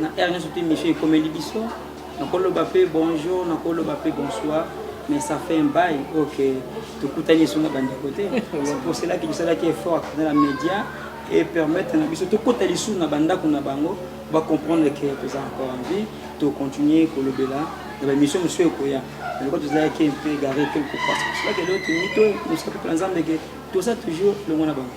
na heure nyonso te mission ekomeli biso nakoloba mpe bonjour nakoloba mpe bonsoir mais ça fait un bail oyo ke tokutani esunga bandeko te poselaki bisalaki effort akenda na média e permettre na biso tokota lisusu na bandako na bango bacomprendre ke toza encore en vie tocontinue kolobela na bamission mosusu ekoya eloko tozalaki mpe gare te kopasaaki eloko toyini to mosaka mpe na nzambe ke toza toujours longo na bango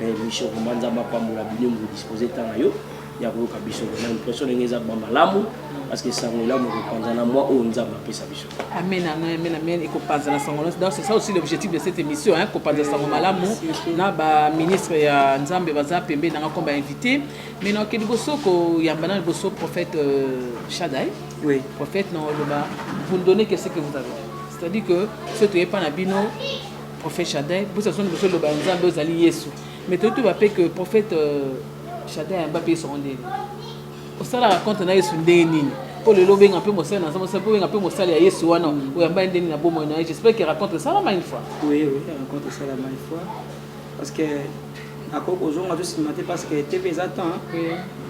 mais mission vraiment nzambe apambola bino vous disposez temps na yo ya koyoka biso na impression ndenge eza ba malamu parce que sango elamu ekopanza na mwa oyo nzambe apesa biso amen amen amen amen ekopanza na sango donc c'est ça aussi l'objectif de cette émission hein kopanza sango malamu na ba ministre ya nzambe baza pembe nanga comme ba invité mais na kedi boso ko yamba na boso prophète euh, Shaddai oui prophète na loba vous donnez qu'est-ce que vous avez c'est-à-dire que ce que pas na bino Prophète Shadin, bosa son boso loba ya Nzambe ozali Yesu. Mais toyebi toba pe que prophète euh, Shadin ayamba pe Yesu ndenge. Osala raconte na Yesu ndenge nini? Po lelo obenga pe mosali na Nzambe, po obenga pe mosali ya Yesu wana oyamba ye ndenge na bomoi na ye. J'espère que raconte esalama une fois. Oui, oui, raconte esalama une fois. Parce que Ako kozonga to sima te parce que TV eza temps.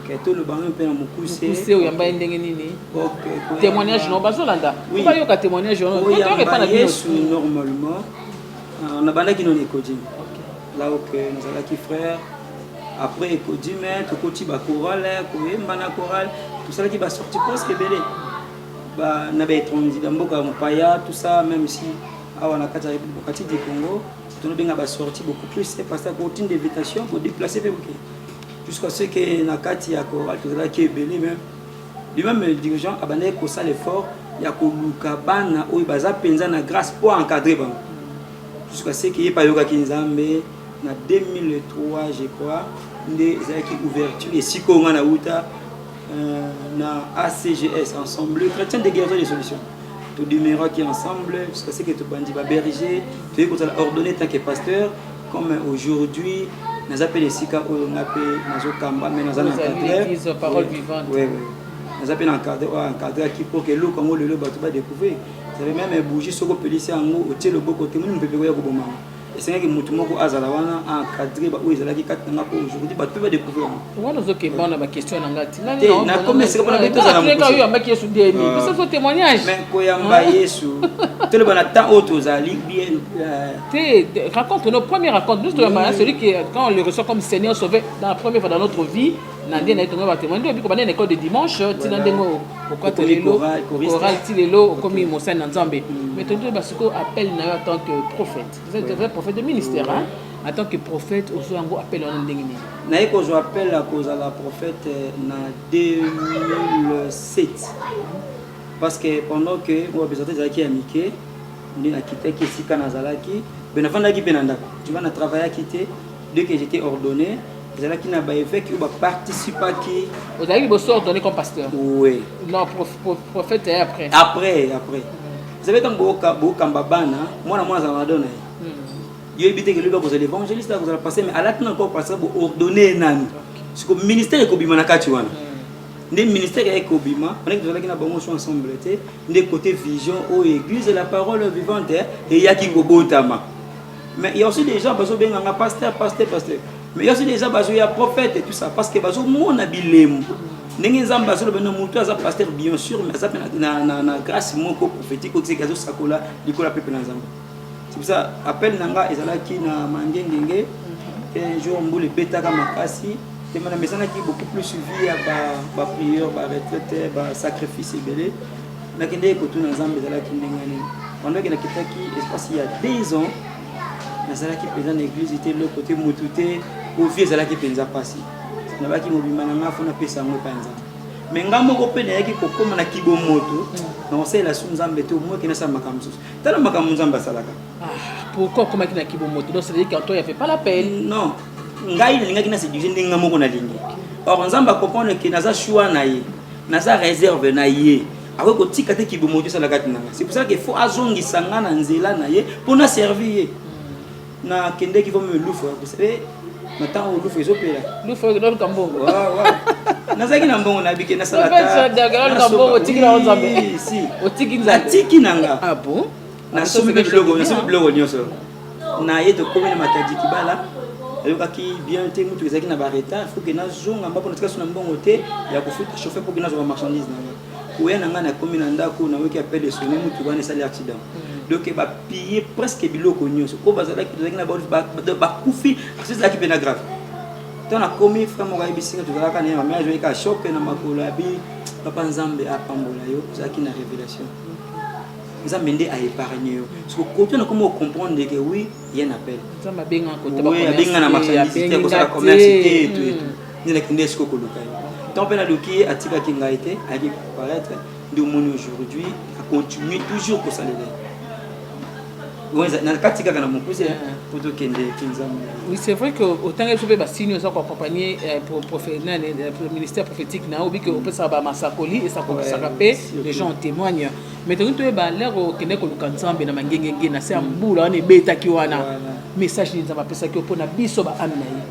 Ke to le bango pe na mukuse. Mukuse oyo yamba ndenge nini? OK. Témoignage no bazo landa. Oui. Ba yoka témoignage no. Ko yamba pa na Yesu normalement. Ah, on a banda kino ne kodji. OK. Là OK, nous allons qui frère. Après kodji mais to koti ba chorale, ko yemba na chorale, tout ça qui va sortir presque belé. Ba na ba étranger, ba mboka mopaya, tout ça même si awa na kati ya République du Congo. tolobi nga ba sortie beaucoup plus c'est parce que otinda invitation ko déplacer pe boke jusqu'à ce que na kati ya ko tozalaki ebele mais lui-même le dirigeant abandaki kosala effort ya koluka bana oyo baza mpenza na grâce mpo encadre bango jusqu'à ce que ye mpe ayokaki nzambe na 2003 je crois nde ezalaki ouverture esika oyo ngai nauta euh, na acgs ensemble chrétien de guérison de solution to demeuraki ensemble jusqu'à ce que tobandi ba berger toyei kozala ordonné tant que pasteur comme aujourd'hui naza mpe na esika oyo nga mpe nazokamba me naza na encadre naza mpe na encadre oyo encadraki mpo ke eloko yango lelo bato badécouvrir save meme bougie soki opelisi yango otie loboko te moni mopepe koya kobomama esengaki motu moko azala wana encadre baoyo ezalaki kati na nga mpo aujourd'hui bato mpe badécouvrir yango wana ozokemba na baquestion na nga tinakomi esika mpona bitozalaoyambaki yesu demi ah. biso so témoignage mais koyamba ah. yesu toloba na temps oyo tozali bien euh, te raconte nos première raconte nous toyambaka celui qui quand on le reçoit comme seigneur sauvé dans la première fois dans notre vie na ndenge naye tonga batemoin nde obiko banda na école de dimanche tina ndenge okota lelo oral ti lelo okomi mosali na nzambe mm. mais tondi basiko appel na yo en tant que prophète vous êtes vrai prophète de ministère hein en tant que prophète ozwa yango appel wana ndenge nini naye kozwa appel ya kozala prophète euh, na 2007 parce que pendant que moi besoin ezalaki ya mike nde nakitaki esika nazalaki mpe nafandaki mpe na ndako tu vois na travaillaki te dès que j'étais ordonné ezalaki na ba évêque oyo ba participaki ozalaki liboso ordonné comme pasteur oui non prof, prof, prophète ya après après après ezalaki ntango boyoka boyokamba bana mwana mwana azala na dona ye hmm. yo yebi te kelobi akozala évangéliste akozala passé mais alati na encore pasteur bo ordonné ye nani siko ministère ekobima na kati wana hmm. nde ministère ya ekobima wana tozalaki na bango so ensemble te nde côté vision oyo église la parole vivante eyaki kobotama Mais il y a aussi des gens bazo benga nga pasteur, pasteur, pasteur. Mais il y a aussi des gens bazo ya prophète et tout ça parce que bazo mona bilemu. Ndenge nzambe azo loba no mutu aza pasteur bien sûr mais aza na na na grâce moko prophétique ko tseka azo sakola likola pepe na nzambe. C'est pour ça appel nanga ezalaki na mangengenge et un jour mbule betaka makasi et mana mesanaki beaucoup plus suivi ya ba ba prières, ba retraites, ba sacrifices ebele. nakendeki kotuna nzambe ezalaki ndenge nini pendant nakitaki espace ya deux ans nazalaki mpenza na eglise te loko te motu te ovie ezalaki mpenza mpasi nabaki mobima na ngai fo napesa yango epai nzambe me ngai moko mpe nayaki kokóma na kibomoto na kosalela su nzambe te omoki nasala makambo mosusu tala makambo nzambe asalaka ah, pourquoi okomaki na kibomoto donc c'est-à-dire qu'en toi il y avait pas la peine non ngai nalingaki na séduire ndenge ngai moko nalingi or nzambe acomprendre ke naza choix na ye naza reserve na ye akoki kotika te kibomoto esala kati na ngai c'est pour ça que faut azongisa ngai na nzela na ye mpo na servir ye nakendeki vo melufu ya kosa eh, na ntango lufu ezopela lufu ekololuka mbongo nazalaki na mbongo na bike nasalatiki na nga ah nasombi biloko nyonso na ye tokomi na matadi kibala ayokaki bien te motuka ezalaki na baretard foke nazonga mbako natika so na mbongo te ya kofuta chauffeur mpoke nazwa bamarchandise na ngai koya na ngai nakomi na ndako nayoki apel esone motuka wana esali accident donc bapiye presque biloko nyonso oyo bazalaki tozalaki na bakufi aso ezalaki mpe na grave to nakomi frère moko ayebisi nga tozalaka na ye mame azwaki ka choc na makolo abi papa nzambe apambola yo ozalaki na révélation nzambe nde a épargne yo siko koto na komi ocomprendre ke oui ye na appel abenga na marchandise te kosala commerce te etu etu nde nakende esiko koluka ye ntango mpe naluki ye atikaki ngai te ayaki paraître nde omoni aujourd'hui acontinue toujours kosalela na kati kaka na mokuse mpo eh, tokende kinzambe oui c'est vrai que otanga biso mpe basini oza koaccompagne eh, eh, ministère prophétique na yo obiki opesaka bamasakoli esakolisaka mpe les gens témoignent Mais tolingi toyeba lero okende koluka nzambe na mangengenge na se ya mbula wana ebetaki wana message nini nzambe apesaki yo mpo na biso baami na ye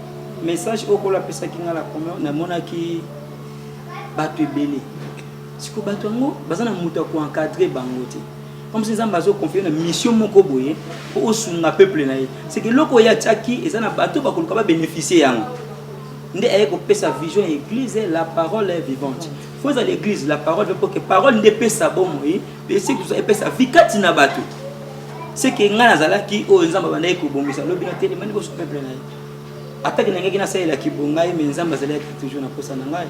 message oyo kolo apesaki ngai na première namonaki bato ebele siko bato yango baza na moto ya koencadre bango te comme si nzambe azoconfie na mission moko boye mpo osunga peuple na ye seke eloko oyo atiaki eza na bato bakoluka babénéficie yango nde aye kopesa vision ya église la parole est vivante faut ezala l'église la parole veut que parole nde epesa bomoi mpe soki toza epesa vi kati na bato seke ngai nazalaki oyo nzambe abandaki kobongisa lobi na telema liboso peuple na ye atake nangaki nasalela kibo ngai me nzambe azalaki toujours na posa na ngai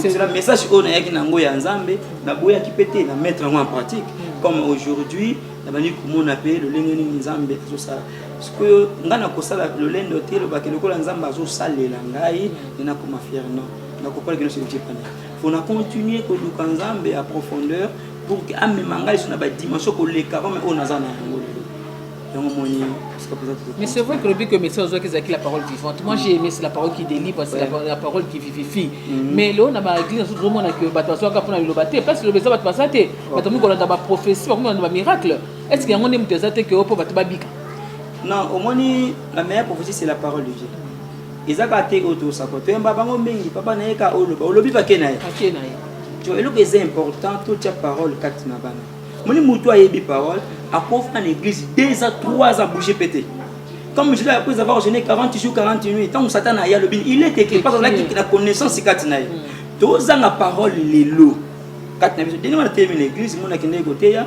cela message oyo nayaki na yango ya nzambe naboyaki mpe te na mettre yango en pratique mm. comme aujourd'hui nabandi komona mpe lolenge nini nzambe azosala sikoyo ngai nakosala lolendo te elobaki lokola nzambe azosalela ngai mm. nde nakoma fier non nakopala kino soki epana fo na continue koluka nzambe ya profondeur pour que amema ngai so na badimension koleka mame oyo naza na yango lelo yango moni Mais c'est vrai que le but que médecin Ozoki Zaki la parole vivante. Moi j'ai aimé c'est la parole qui délivre, c'est ouais. la, la parole qui vivifie. Mm -hmm. Mais là on a ma église tout le monde que bato bazo ka pona loba te parce que loba bato baza te. Bato moko na ba prophétie, ba moko na ba miracle. Est-ce qu'il y a un homme qui que opo bato babika? Non, au moins la meilleure prophétie c'est la parole de Dieu. eza kaka te oyo tosako toyamba bango mingi papa na ye ka oloba olobi bake na ye bake na ye to eloko eza important totya parole kati na bana moni motu ayebi parole akofana na église deux a trois a bouge pe te comme je après avoir jeûné 40 jours 40 nuits ntango satana aya alobi il est écrit parce azalaki na connaissance kati na ye mm. tozanga parole lelo kati na biso deni wana teyemi na église mona akendeki koteya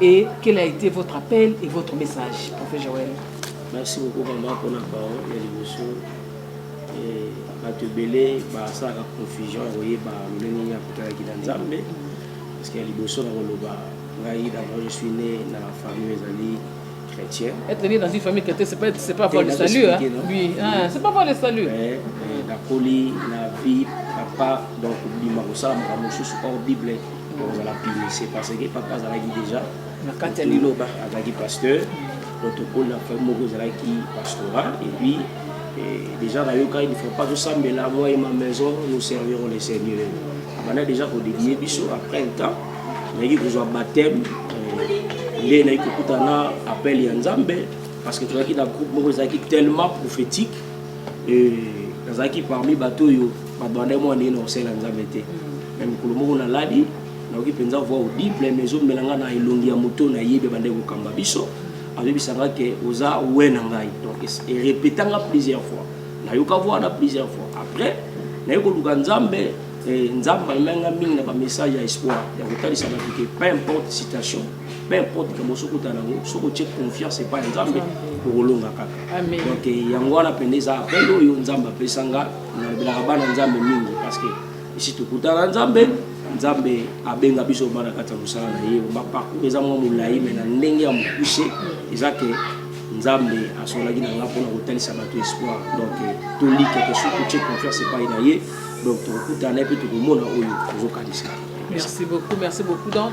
Et quel a été votre appel et votre message, Prophète Joël Merci beaucoup, maman, pour la parole et l'émotion. bato ebele basalaka confusion ya koyeba lolenge nini akotalaki na nzambe parce que ya liboso na koloba ngai d'abord je suis né na famille ezali chrétien être né dans une famille chrétienne c'est pas c'est pas avoir le salut hein oui ah, c'est pas avoir le salut nakoli na vie papa donc bima kosala makambo mosusu or bible kozala pinise parce que papa azalaki déjà na kati ya liloba azalaki pasteur donc tokoli na famille moko ezalaki pastoral et puis eh, déjà nayokaki il faut pas tosambela moi et ma maison nous servirons le seigneur abanda déjà kodedie biso après un temps nayaki kozwa baptême eh, nde nayaki kokutana appel ya nzambe parce que tozalaki na groupe moko ezalaki tellement prophétique eh, nazalaki parmi bato oyo Ba Rwandais mwa ndenge na kosela Nzambe te. Na mikolo moko na lali, nayoki mpenza voix audible mais ezomela nga na elongi ya moto na yebi bande kokamba biso. Azobisa nga ke oza we na ngai. Donc e répéta nga plusieurs fois. Nayoka voix na plusieurs fois. Après, naye koluka Nzambe eh, Nzambe amema nga mingi na ba message ya espoir ya kotalisa bato ke peu importe situation peu importe kambo soki ota nango soki otie confiance epai ya nzambe okolonga kaka donc yango wana mpenza eza appel oyo nzambe apesa nga nalobelaka bana nzambe mingi parce que esi tokutana nzambe nzambe abenga biso bana kati ya mosala na ye baparcour eza mwa molai me na ndenge ya mokuse eza ke nzambe asolaki na nga mpona kotalisa bato espoir donc tolike tosu totie confiance epai na ye donc tokokutana ye mpe tokomona oyo tozokanisa merci beaucoup merci beaucoup donc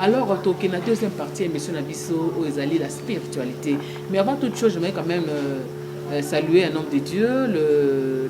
Alors toke na deuxième partie ya émission na biso oyo ezali la spiritualité mais avant toute chose j'aimerais quand même euh, euh, saluer un homme de Dieu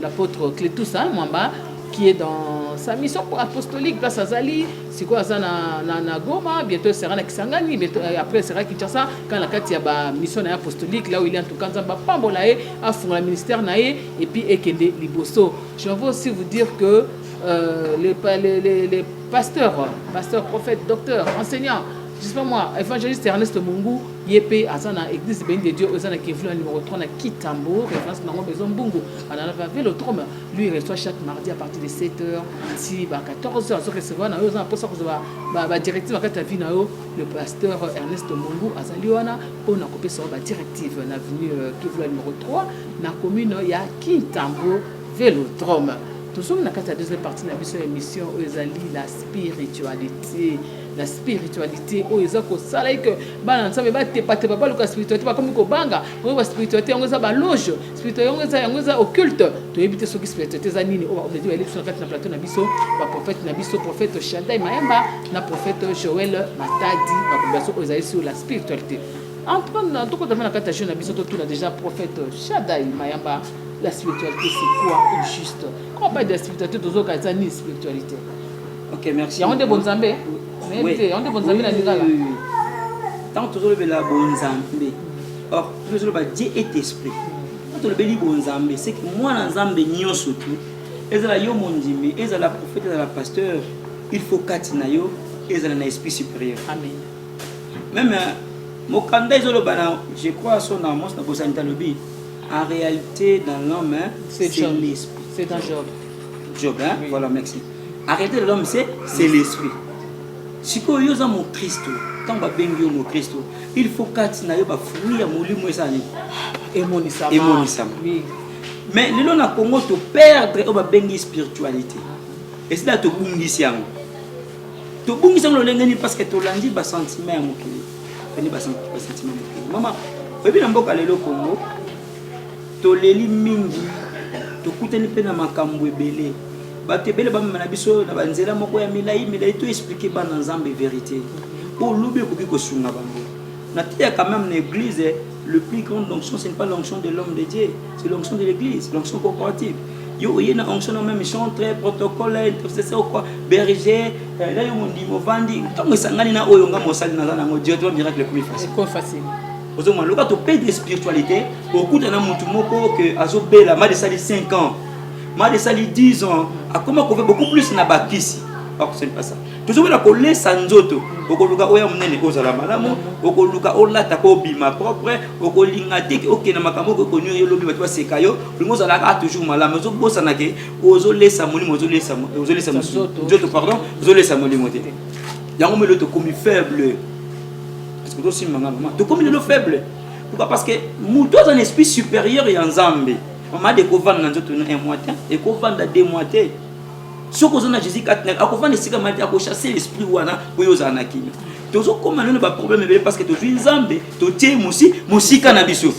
l'apôtre Cletus hein, Mwamba qui est dans sa mission apostolique place azali sikoyo aza na, na, na Goma bientôt sera na Kisangani bientôt, euh, après sera Kinshasa quand na kati ya ba mission na apostolique là où il est en tout cas nzambe apambola ye afungola ministère na ye et puis ekende liboso je veux aussi vous dire que euh, les, les, les, les Pasteur, pasteur, prophète, docteur, enseignant, je sais pas moi, évangéliste Ernest Mungu, yepe azana église Béni de Dieu, ozana Kevlon numéro 3 na Kitambo, référence na ngombe Zombungu, anana va Vélodrome, lui il reçoit chaque mardi à partir de 7h, si ba 14h, azo recevoir na yo, ozana posa ko ba ba, ba directive akati ya vie na yo, le pasteur Ernest Mungu azali wana pona ko pesa ba directive na avenue euh, Kevlon numéro 3 na commune ya Kitambo. Velodrome. Tozomi na kati ya deuxième partie na biso ya emission oyo ezali la spiritualité la spiritualité oyo eza kosala eke bana nzambe batepatepa baluka spiritualité bakomi kobanga oyo ba spiritualité yango eza baloge spiritualité yango eza yango eza occulte toyebi te soki spiritualité eza nini oyo baomeji bayeli biso na kati na plateau na biso baprofete na biso profete shadai mayamba na profete joel matadi bakombination oyo ezali sur la spiritualité en tout cas tokotama na kati ya jeu na biso totuna déjà profete shadai mayamba la spiritualité c'est quoi au juste quand on parle de la spiritualité tozoka eza nini spiritualité ok merci yango nde bonzambe nayebi te yango nde bonzambe na lingala ntango tozolobela bonzambe or tozoloba dieu est esprit ntango tolobeli bonzambe seke mwana nzambe nyonso tu ezala yo mondimi ezala prophète ezala pasteur il faut kati na yo ezala na esprit supérieur amen meme mokanda ezoloba na je crois so na mos na bosani talobi En realite dans l'homme c'est l'esprit. C'est un job. Job hein? Oui. Voilà merci. En réalité l'homme c'est c'est l'esprit. Sikoyo yo oza mokristo ntango babengi yo mokristo il faut kati na yo bafruit ya molimo eza nini emonisama emonisama oui. mais lelo na congo toperdre oyo babengi spiritualité esila tobungisi yango tobungisi yango lolenge nini parce que tolandi basentiment ya mokili pene basentima mokili mama oyebi na mboka lelo congo toleli mingi tokutani mpe na makambo ebele bato ebele bamema na biso na banzela moko ya milai milai to explike bana nzambe verité oyo lobi ekoki kosunga bango nateyaka meme na église le plus grande onction ce n'est pas l'onction de l'homme de dieu C'est l'onction de l'église, l'onction corporative. Yo oye na onction na même chantre, protocole, intercesseur quoi, berger, euh, là yo mundi movandi, tango esangani na oyo nga mosali na zana ngo directement miracle comme facile. Comme facile. Ozo mwa loka to paye de spiritualité, okuta na mutu moko que azo bela mal sali 5 ans. Mal sali 10 ans, akoma ko beaucoup plus na bakisi. Pas que c'est pas ça. tozobela kolesa nzoto okoluka oya monene ozala malamu okoluka olata ko obima propre okolinga te okenda makambo okoki konio yo lobi bato baseka yo olingi ozala kaka toujours malamu ozobosana ke ozolesa molimo ozolesa ozolesa nzoto pardon ozolesa molimo te yango melo tokomi faible parce que tosimba nga mama tokomi lelo faible pourquoi parce que moto aza na esprit supérieur ya nzambe mama de kovanda na nzoto na un mois te ekovanda deux mois te soki oza na jésus kati na akovanda esika mati akochasse l'esprit wana mpo yo ozala na kimia tozokoma lelo baproblème ebele parce que tozwi nzambe totie mosi mosika na biso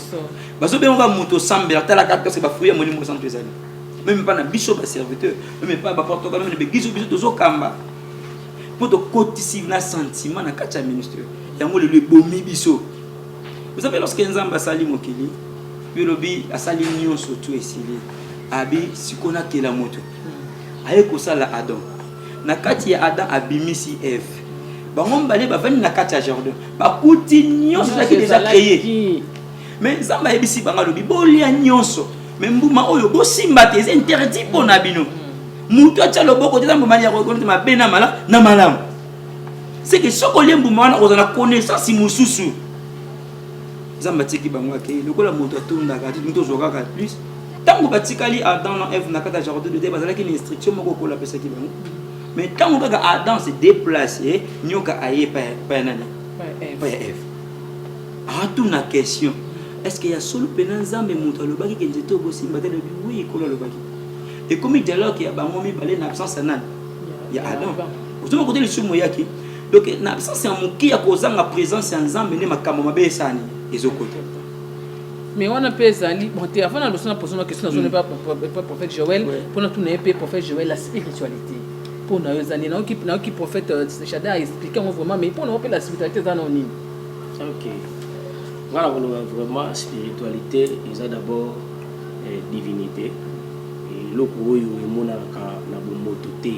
bazobengaka moto osambela talaka parce bafruit ya molimo santu ezali meme epa na biso baserviteur meme epa baportoka meme na begizo biso tozokamba mpo tokotisi na sentiment na kati ya ministre yango lelo ebomi biso oza mpe lorsque nzambe asali mokili yo lobi asali nyonso tu esili abi sikoyo nakela moto aye kosala adam na kati ya adam abimisi eve bango mibale bavandi na kati ya jardin bakuti nyonso ezalaki deja kreye mais nzambe ayebisi bango alobi bolia nyonso me mbuma oyo bosimba te eza interdit mpo na bino moto atya loboko te eza mbuma ya kokonete mabe na malamu na malamu seke soki olie mbuma wana ozala na connaissance mosusu nzambe atiki bango akei lokola moto atondaka ti moto ozwa kaka plus Tango batikali Adam na Eve na kata jardin d'Eden bazalaki na instruction moko okola apesaki bango. Mais tango kaka Adam se déplace, nyoka aye pa pa nani? Pa Eve. Atuna question. Est-ce que ya solo pena Nzambe moto alobaki ke nzete okosimba te lobi oui ekolo alobaki. Ekomi dialogue ya bango mibale na absence ya nani? Ya Adam. Ozoma kote lisumu yaki. Donc na absence ya moki ya kozanga présence ya Nzambe nde makambo mabe esani ezokota. mais wana mpe ezali bon te avant naloso na poso na question nazoni mpe mm. prophète joel mpo natuna ye mpe prophète joel la spiritualité mpo na yo eza nini nayoki prophète euh, shada aexplike yango vraiment mais mpo na yo mpe la spiritualité eza nao nini ok nga nakoloba vraiment spiritualité eza d'abord eh, divinité eloko oyo emonanaka na bomoto te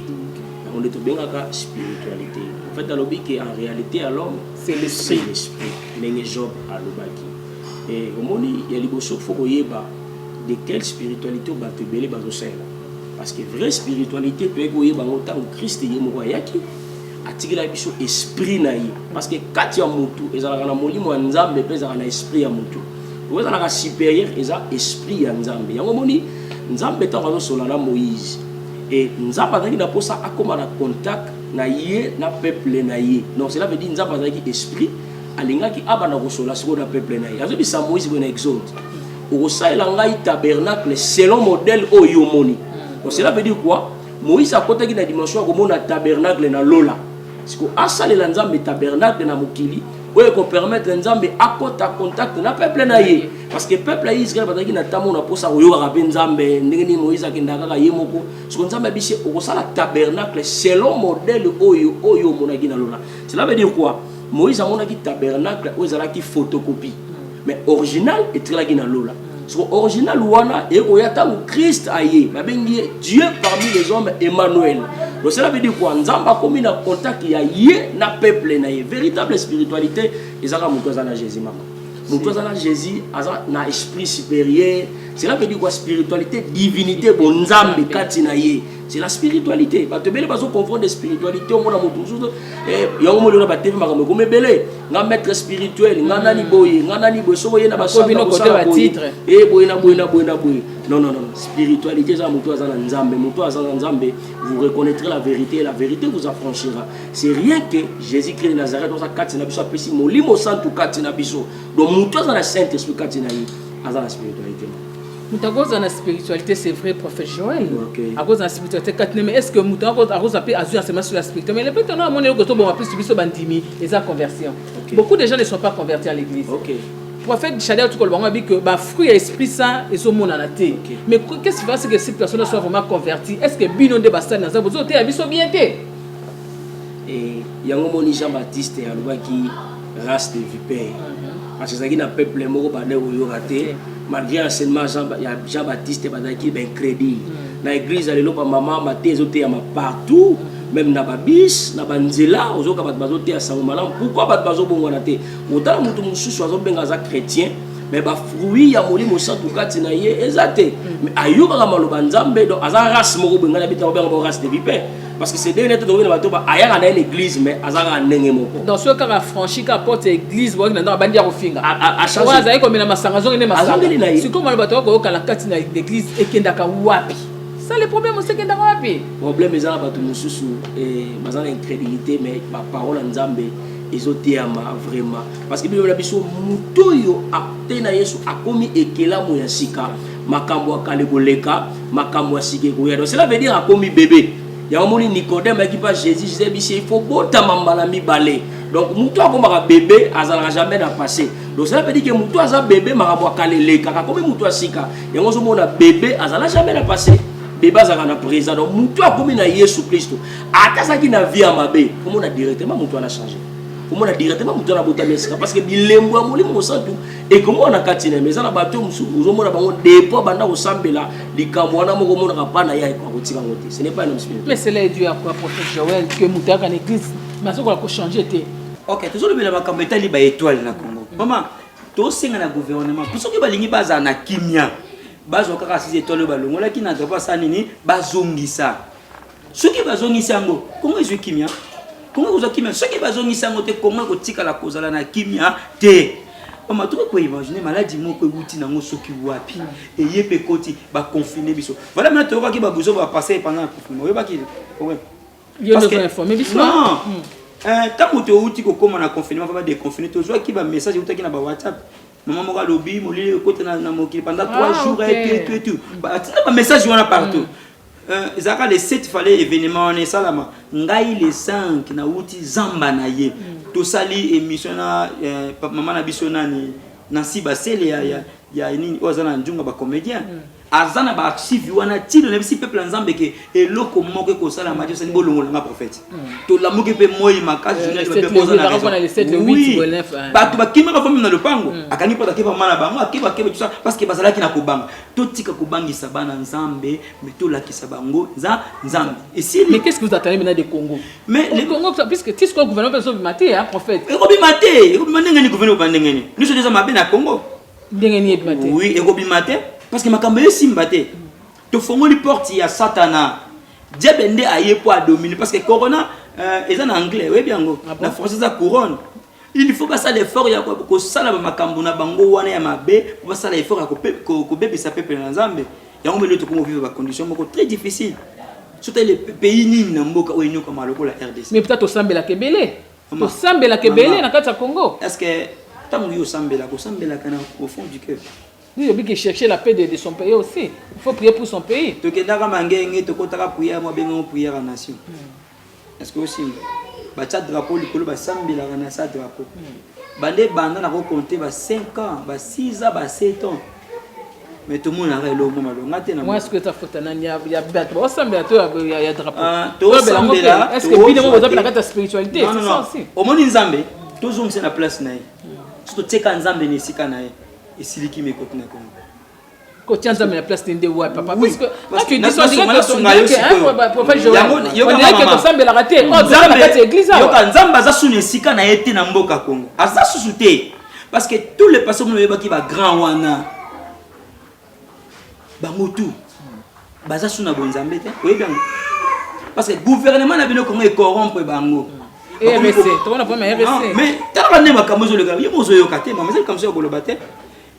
yango nde tobengaka spiritualité en fait alobi ke en réalité ya l'homme c'est l'esprit ndenge job alobaki Eh, omoni ya liboso faut koyeba de quelle spiritualité bato ebele bazosalela parce que vraie spiritualité toyaki koyeba yango ntango krist ye moko ayaki atikela biso esprit na ye parce que kati ya motu ezalaka na molimo ya nzambe mpe ezalaka na esprit ya motu oyo ezalaka supérieur eza esprit ya nzambe yango omoni nzambe ntango azosola na moïse e nzambe azalaki na mposa akóma na contact na ye na peuple na ye donc cela veut dire nzambe azalaki esprit alingaki abanda kosola sikoyo na peuple na ye azobisa moïse boye na exode okosalela ngai tabernacle selon modèle oyo omoni donc cela veut dire quoi moïse akotaki na dimension ya komona tabernacle na lola siko asalela nzambe tabernacle na mokili oyo ekopermettre nzambe akota contact na peuple na ye parce que peuple ya israel bazalaki na ntango na mposa koyokaka mpe nzambe ndenge nini moïse akendaka kaka ye moko soko nzambe abisi okosala tabernacle selon modèle oyo oyo omonaki na lola cela veut dire quoi Moïse amonaki tabernacle oyo ezalaki photocopie mais original etikalaki na lola soko original wana ekoya ntango krist aye babengi ye dieu parmi les hommes emmanuel donc cela veut dire quoi nzambe akomi na contact ya ye na peuple na ye véritable spiritualité ezalaka moto aza na jésus mama moto aza na jésus aza na esprit supérieur cela veut dire quoi spiritualité divinité bonzambe kati na ye c'est la spiritualité bato ebele bazo confondre spiritualité omona moto mosusu eh, yango molona batv makambo ekomi ebele nga maître spirituel nga nani boye nga nani boye soki oye na basandaosala boye e boye na boye na boye na boye non non non spiritualité eza moto aza na nzambe moto aza na nzambe vous reconnaîtrez la vérité et la vérité vous affranchira c'est rien que jésus christ de nazareth oza kati na biso apesi molimo santu kati na biso donc moto aza na saint esprit kati na ye aza na spiritualité moto akozala na spiritualité c'est vrai prophète joel akozala na spiritualité kati ne mais est ce que moto akozala mpe azwi enseignement sur la spiritualité mais lepete no amoni eloko toboma plus biso bandimi eza conversion beaucoup de gens ne sont pas convertis à l'église prophète Shadia tu kolba ngabi que ba fruit ya esprit saint ezo monana te okay. mais qu'est-ce qui va c'est que cette personne soit vraiment convertie est-ce que bino nde ba sali na zabu zo te ya biso bien te et yango moni Jean-Baptiste alobaki race de vipère parce que ezalaki na peuple moko bandaki koyoka te malgré enseignement ya jean baptiste bazalaki baincrédule mm. na église ya lelo bamama mate ezoteyama partout même na babis na banzela ozoyoka bato bazoteya sango malamu pourkui bato bazobongwana te otala moto mosusu azobenga aza chrétien mais bafruit ya molimo santu kati na ye eza te mm. mais ayokaka maloba nzambe donc aza race moko boye ngai na bitaka obenga bo race de vipère parce que c'est bien être tokoki na bato ba ayaka na ye na église mais aza kaka ndenge moko donc soki kaka franchi kaka porte ya église boyoki na ndako abandi ya kofinga oyo azali komela masanga azongi nde masanga sikoyo maloba tokoki koyoka na kati na église ekendaka wapi ça le problème osi ekendaka wapi problème eza na bato mosusu eh, baza na incrédulité mais baparole ya nzambe ezoteyama vraiment parce que bino na biso moto oyo ate na yesu akomi ekelamu ya sika makambo ya kala ekoleka makambo ya sika ekoya donc cela veut dire akomi bebe yango moni nicodème ayaki mpa jésus jesus ayebisi ye faut botama mbala mibale donc motu akomaka bebe azalaka jamais na passé donc cela veut dire ke motu aza bebe makambo ya kala elekaka akomi motu ya sika yango ozomona bebe azala jamais na passé bebe azalaka na présent donc motu akomi na yesu kristo ata azalaki na vie ya mabe omona directement motu wana change omona directement motu wana abotami esika parce que bilembo ya molimo mosantu ekomona kati na eza na bato mosusu ozomona bango depo abanda kosambela likambo wana moko omonaka mpa na ye akotika yango te ce n'est pas mais cela est dû à quoi prophète Joël que moto ayaka na église mais azokola kochanger te ok tozolobela makambo etali ba étoile na Congo mama tosenga na gouvernement mpo soki balingi bazala na kimia bazwa kaka six étoile oyo balongolaki na drapo asala nini bazongisa soki bazongisi yango kongo ezwi kimia kongo ekozwa kimia soki bazongisi yango te kongo ekotikala kozala na kimia te mama tokoki koimagine maladi moko ewuti nango soki wapi eye mpe ekoti baconfine biso vala mina toyokaki babuzo bapase epanda na confinement oyebaki ntango towuti kokóma na confinement mpe badeconfine tozwaki bamessage ewutaki na bawhatsapp mama moko alobi molili ekota na mokili pendant 3 jours etu etu etu batinda bamessage wana partout mm. Euh, ezalaka le 7 fale événement wana esalama ngai le 5 nauti zamba na ye mm. tosali émission na euh, mama na biso nani nansi basele ya, ya, ya nini oyo aza na njunga bacomédien mm. aza na baarchive wana ntina nayebisi peuple ya nzambe ke eloko moko ekosalama ti osali bolongola nga prophète mm. tolamuki mpe moi makasi euh, bato bakimaka fo meme na lopango akangi mpo akeba mama na bango akeba akeba tusa parce que bazalaki na kobanga totika kobangisa bana nzambe me tolakisa bango nza nzambe esili mais qu'est-ce que vous attendez maintenant de congo mais le congo puisque ti sikoyo gouvernement mpe ezobima te ya prophète ekobima te ekobima ndenge nini gouvernement ba ndenge nini nyonso eza mabe na congo ndenge nini ebima te oui ekobima te parce que makambo esimba te tofongoli porte ya satana diable nde aye mpo adomine parce que corona euh, eza na anglais oyebi yango ah na français eza couronne Il faut basala effort ya kosala ba makambo na bango wana ya mabe, po basala effort ya kobebisa peuple na Nzambe. Yango mele tokomo vivre ba conditions moko très difficile. Soki le pays nini na mboka oyo enyokama lokola RDC. Mais peut-être osambelaka ebele. Osambelaka ebele na kati ya Congo. Est-ce que ntango yo osambelaka osambelaka na au fond du cœur Oui, obi qui cherchait la paix de, de son pays aussi. Il faut prier pour son pays. Tokendaka mangenge, tokotaka prière, moi bengo prière en nation. Hmm. Est-ce que osimba? Batia drapeau likolo basambelaka na sa drapeau. Banda ebanda na ko compter ba 5 ans, ba 6 ans, ba 7 ans. Mais tout le monde a eloko mwa malonga te na. Moi est-ce que ta faute na ya ya bato basambela to ya ya drapeau. Ah, to sambela. Est-ce que bino boza pela kata spiritualité? C'est ça aussi. Omoni Nzambe, tozongisa na place na ye. Soki totieka Nzambe na esika na ye, esiliki mekoti na Congo. kotia nzambe na place nde wapi papa puisque quand tu dis ça dirait que son dirait que hein papa Joël on dirait que tosambelaka te oh toza na kati ya église awa yoka nzambe aza sunu esika na ye te na mboka Congo aza susu te parce que tous les pasteurs mono yebaki ba grand wana bango tout baza sunu na bonzambe te oyebi yango parce que gouvernement na bino Congo ecorrompre bango mm. mais tala nde makambo ezoleka ye mozoyoka te mama ezali kamso ya koloba te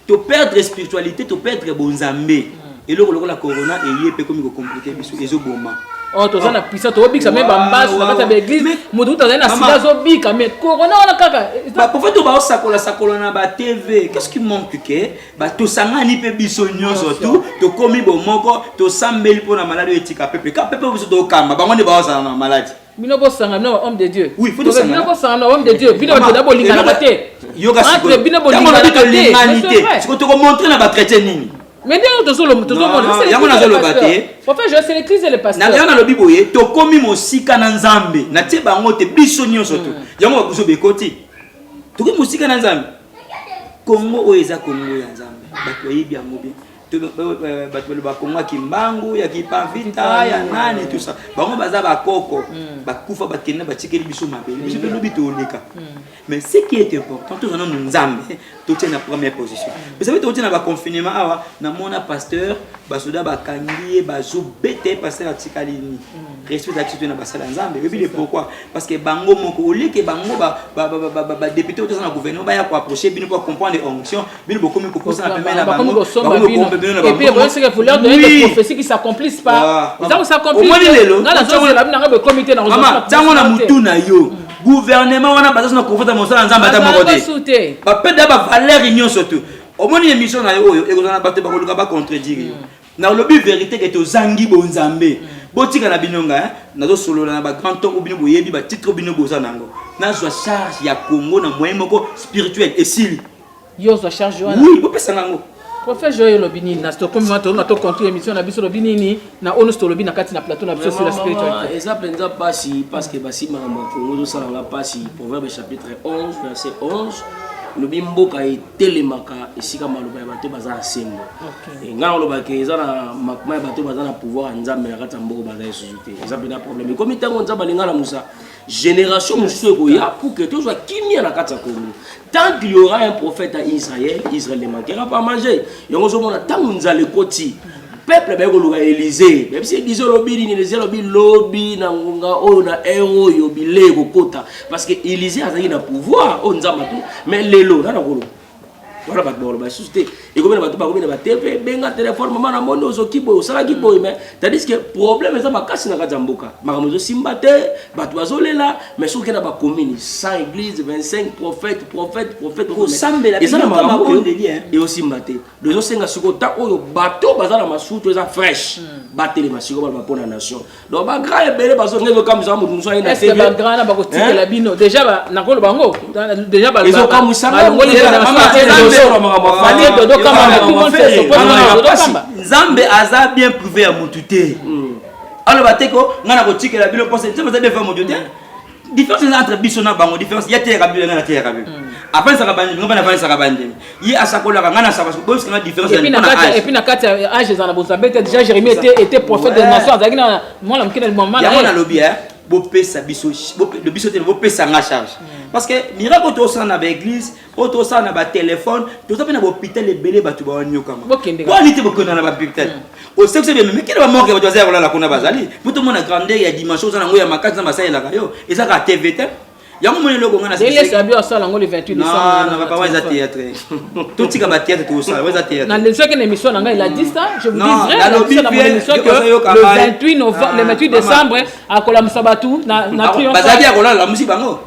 To perdre spiritualite, to perdre bonzambe. Eloko lokola corona eye pe komi ko compliquer biso ezo boma. Oh, toza na puissance tobikisa me bambasu na kati ya baeglise moto kutu azali na sida azobika me corona wana kaka baprofete baosakola sakola na batv qu'est-ce qui manque ke tosangani mpe biso nyonso tu tokomi bomoko tosambeli mpo na maladi oyo etika pepe ka pepe biso tokamba bango nde baozala na maladi bino bosanga no homme de dieu oui faut de bino bosanga no homme de dieu bino ba tela bolinga na te yoga siko entre bino bolinga na te l'humanité siko toko montrer na ba chrétien nini mais nde tozo lo tozo mona c'est yango nazo loba te en fait je sélectise les pasteurs na yango lobi boye to komi mosika na nzambe na tie bango te biso nyonso to hmm. yango ba kuzo bekoti to komi mosika na nzambe kongo oyo eza kongo ya nzambe bato bayebi yango bien bato baloba kongo ya kimbangu ya kipavita ya nani tusa bango baza bakoko mm. bakufa bakende batikeli biso mabele biso mpe mm. lobi toleka mm. mais ce qui est important toza nano nzambe totie na première position mais sape tokotie na baconfinement awa namona pasteur basoda bakangi ye bazobete pasteur atikali nini respect ezalaki soto na basala nzambe oyebi de pourquoi parce que bango moko oleke bango badepute oyo toza na gouvernement baya koapproche bino mpo acomprendre onction bino bokomi kokosana pembeni na bango bakomi kokombe bino na bango oui c'est que vous leur donnez des prophéties qui s'accomplissent pas ils ont s'accomplir omoni lelo ngana nzongo la bino ngabo komi te na ngabo mama tango na mutu na yo gouvernement wana baza na kofata mosala nzambe ata moko te bapeda ba valeur nyonso tu omoni émission na yo oyo ekozala na bato bakoluka bacontredire yo nalobi verité ke tozangi bonzambe botika na bino nga eh? nazosolola na bagrand tongo bino boyebi batitre bino boza na yango nazwa charge ya congo na moyen moko spirituel esili Yo ozwa charge wana? Oui, bopesa nga yango. Prophète Joël olobi nini na Stockholm wana tolona to conclure émission na biso olobi nini na onu tolobi na kati na plateau na biso sur la spiritualité. Eza penza pasi parce que basi mama makongo zo sala nga pasi Proverbe chapitre 11 verset 11 lobi mboka etelemaka esika maloba ya bato baza na sembo eh, ngai olobaka eza na makma ya bato baza na pouvoir ya nzambe na kati ya mboka baza lisusu te eza mpenza problème ekomi ntango nzambe alinga na mosa Génération mosusu ekoya pour que tozwa kimia na kati ya Congo. Tant qu'il y aura un prophète à Israël, Israël ne manquera pas à manger. Yango ozomona ntango nzala ekoti peuple baye koluka Élysée. Même si Élysée olobi nini, Élysée olobi lobi na ngonga oyo na heure oyo bilei ekokota parce que Élysée azalaki na pouvoir oyo nzambe atu mais lelo nana koloba wana bato bakoloba lisusu te ekomi na bato bakomi na bateve benga telefone mama na moni ozoki boye osalaki boye mai tandis que problème eza makasi na kati ya mboka makambo ezosimba te bato bazolela mai soki okenda bacommune 100 église 25 prophète prophète prophète eza na makambo eosimba te do ezosenga sikoyo ntango oyo bato baza na masutu eza fraîche hmm. batelema sikoyo baloba mpo na nation donc ba grand ebele bazo ngendo kamisa mutu musa ina tebe ba grand na bako tikela bino déjà ba nakolo bango déjà ba ezo kamisa ba ngoli na mama tena solo mama ba fani dodo kama na tout monde se pose na dodo kama nzambe aza bien privé ya mutu te hmm. alors ba teko ngana ko tikela bino pose nzambe aza bien privé ya mutu te différence eza entre biso na bango différence ye ateyaka biblia ngai nateyaka biblia hmm. afandisaka bandimi ngai mpe nafandisaka bandimi ye asakolaka ngai nasaka boyebisaka ngai différence epuis na kati ya age eza na bozambe te déjà jérémie ete prophète de nation azalaki na mwana moke na limama yango nalobi eh, bopesa biso biso te bopesa ngai charge hmm. parce que miracle toosala na baeglise oyo tosala na batelefone toza mpe na bahopital ebele bato bawanyokama wani te bokenda na bahopital hmm. osekisa bia memekele bamorke bato baza ya kolala kuna bazali mpo tomona grandeur ya dimension oza nango ya makasi na basalelaka yo eza kaka tv te yango moni eloko ngai nasabiasalangolpapa eza théâtre totika bathéâtre tosala eza théâtrenalesaki na émission na ngai la 10 ans je vous dis vrai émission que le 28 novembre le 28 décembre akolamisa bato na bazali ya kolala lamusi bango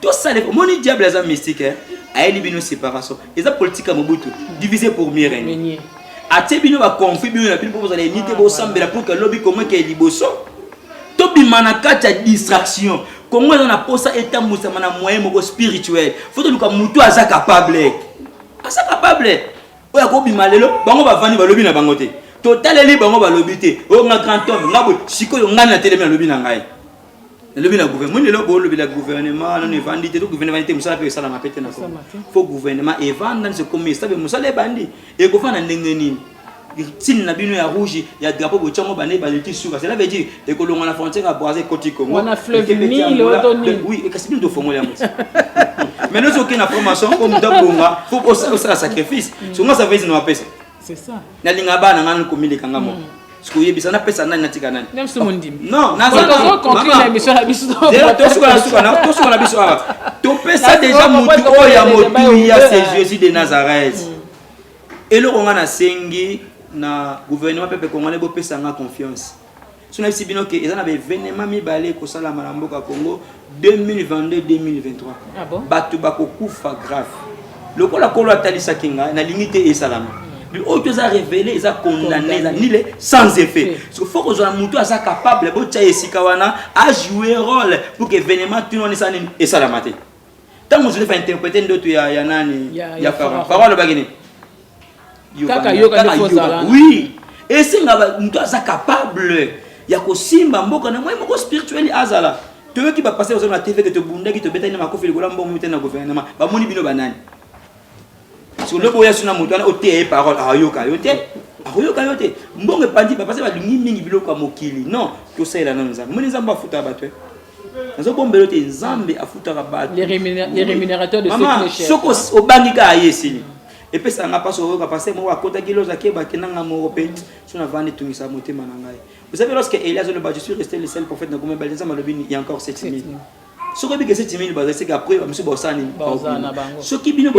tosala omoni diable aza mystique eh? ayeli bino séparation eza politique ya mobutu divisé pour mieux régner atie bino baconflit bino na bino mpo bozala eni te bosambela mpo ke lobi kongo ekeye liboso tobima na kati ya distraction kongo eza na mposa etambwisama na moyen moko spirituel fo toluka motu aza capable aza capable oyo akobima lelo bango bavandi balobi na bango te totaleli bango balobi te oyo nga grand homme nga boye sikoyo ngai natelemi nalobi na ngai elobi na gouvernement moni lelo bolobela gouvernement nano evandi te to gouvernement evandi te mosala mpe esalama mpe te na congo fo gouvernement evanda nso ekomi estabe mosala ebandi ekofana ndenge nini signe na bino ya rouge ya drapeau botiango bane baleki suka cela veut dire ekolonga na frontière ya brasil koti congo wana fleuve nile oto nini oui kasi bino tofongola yango mais nozoke na formation oyo moto abonga fo osala sacrifice songo sa vezi na bapesa C'est ça. Na linga bana nga nko mileka nga moko. Siko yebisa na pesa nani natika nani. Même si mon dim. Non, na za ko conclure la mission la biso. Zero to suka na suka na to suka na biso awa. To pesa déjà mutu oyo ya motu ya c'est Jésus de Nazareth. Mm. Eloko nga na sengi na gouvernement pepe congolais bopesa nga confiance. so nayebisi bino ke eza na baevenema mibale ekosalama na mboka congo 2022-2023 ah bon? bato bakokufa grave lokola kolo atalisaki ngai nalingi te esalama hmm. oyo to eza révélé eza condamné eza nile sans effet parce que faut kozala motu aza capable botya esika wana ajoue rôle pour que événement tino wana esala nini esalama te ntango joseph ainterprete ndoto ya, ya nani ya, ya, ya farao farao alobaki nini kaka yoka nde kozala oui esenga moto aza capable ya kosimba mboka na moi moko spirituel azala toyoki bapasteur oza na tv ke tobundaki tobetaki na makofi likolo ya mbongo mitani na gouvernement bamoni bino banani so lobi oya so na moto wana oteya ye parole ayoka yo te akoyoka yo te mbongo epandi bapasi balingi mingi biloko ya mokili non tosalela nano nzambe omoni nzambe afutaka bato eh? nazobombela te nzambe afutaka batosoki obangi kaka ye esili epesaka nga mpasi oyoka pase moko akotaki loza keba te nanga moko mpe so navandi etungisa motema na ngai vous savez lorsque elia azoloba je suis resté le seul prophète na komebale nzambe alobi ya encore 7000 soki oyebi kese timini baza seke après bamisu baosala nini soki bino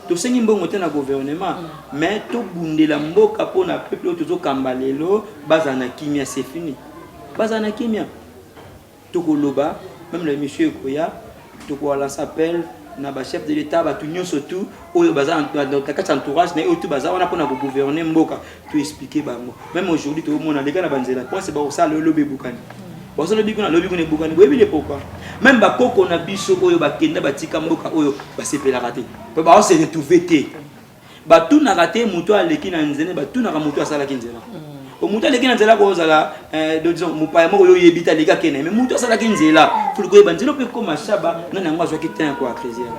tosengi mbongo te na gouvernement mm. mais tobundela mboka mpo na peuple oyo tozokamba lelo bazala na kimia c'est fini bazala na kimia tokoloba meme na émission ekoya Toko a lance appel na ba chef de l'etat batu nyoso tout oyo baza na kati entourage na oyo tout baza wana pona ko gouverner mboka to expliquer bango même aujourd'hui to mona leka na banzela prince ba osala lelo lobe bukani bazo lobi kuna lobi kuna bukani boyebi le pourquoi même ba koko na biso oyo bakenda batika mboka oyo basepelaka te pe ba se retrouver te batunaka te moto oyo aleki na nzela batunaka moto oyo asalaki nzela mm. moto aleki na nzela kozala eh, disons mopaya moko yo oyebi te aleki akende me moto asalaki nzela poli koyeba nzela mpe ekoma shaba nani yango azwaki tin ko acresiere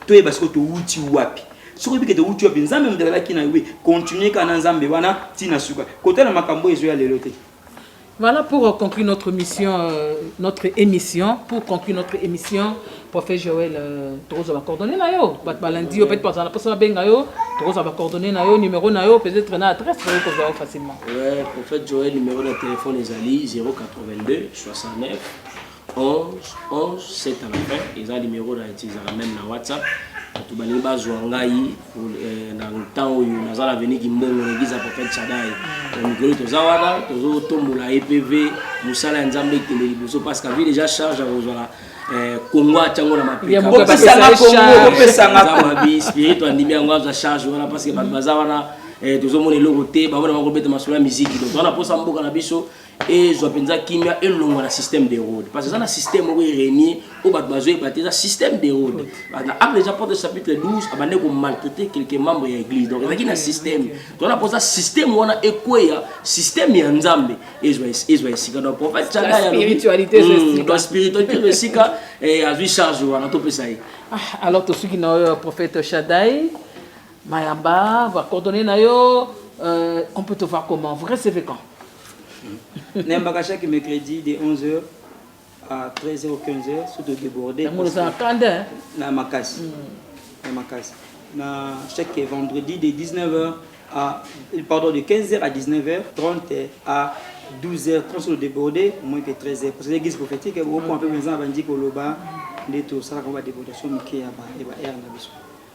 toyeba sikoyo towuti wapi soki oyebi kete owuti wapi nzambe moto azalaki na yo continue kaka na nzambe wana ntina suka kotala makambo oyo ezoya lelo te Voilà pour conclure notre mission, euh, notre émission. Pour conclure notre émission, prophète Joël, euh, tokoza ba coordonnées na yo. Bat balandi yo peut-être pas na posa benga yo, tokoza ba coordonnées na yo, numéro na yo, peut-être na adresse pour ko zawa facilement. Ouais, prophète Joël numéro de téléphone ezali 082 69 11 11 7 à la fin eza numéro na utilisaka même na whatsapp bato balingi bazwa ngai eh, na ntan oyo naza na veni kimbongo na eglise ya prophète chadai na mikolo toza wana tozotombola epv mosala ya nzambe ekende liboso parce que avi déjà charge ya kozwala eh, kongo atyango na mapekamabi spirito andimi yango azwa charge wana parce que bato baza wana eh, tozomona eloko te bango na bakobeta masolo ya miziki donc wana mposa mboka na biso ezwa mpenza kimia elongwa na système de rode parce eza na système moko erenie oyo bato bazoyeba te eza système de rode na apre eza porte chapitre 12 abande komaltraite quelque membre ya église donc ezalaki na système tona mpoza système wana ekweya système ya nzambe ezwa esika donc prophète chagayaspiritualité ezwa esika azwi charge wana topesa ye ah, alors tosuki na oyo prophète shadai mayamba bacoordonne na yo euh, on peut te voir comment vous recevez quand nayembaka chaque mercredi de 11h à 13h ou 15h surtout débordé na makasi na makasi na chaque vendredi de 19h à pardon de 15h à 19h30 à 12h30 sur le débordé moins que 13h parce que l'église prophétique beaucoup un peu besoin abandi koloba nde tosalaka ba débordation moke ya ba heure na biso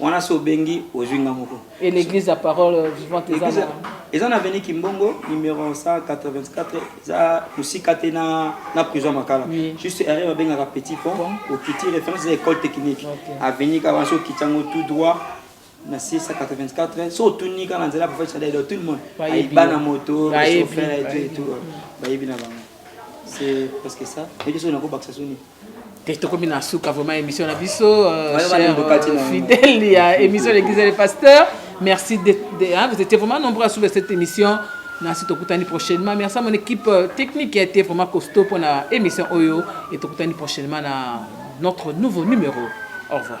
wana so obengi ozwi nga moko et l'église la parole vivante eza na eza na avenue kimbongo numéro 184 eza mosika te na na prison makala oui. juste erreur babengaka petit pont bon. okiti référence eza école technique okay. avenue kaka wana so okiti yango tout droit na 684 so otuni kaka na nzela prophète chadel tout le monde ayiba na moto chauffeur et tout et tout bayebi na bango c'est parce que ça eki soki nakobakisa soni te tokomi na suka vraiment émission na biso euh, cher euh, fidèle ya émission l'église et le pasteur merci de, de, hein, vous étiez vraiment nombreux à suivre cette émission nasi tokutani prochainement merci à mon équipe euh, technique qui a été vraiment costaud pour na émission oyo et tokutani prochainement na notre nouveau numéro au revoir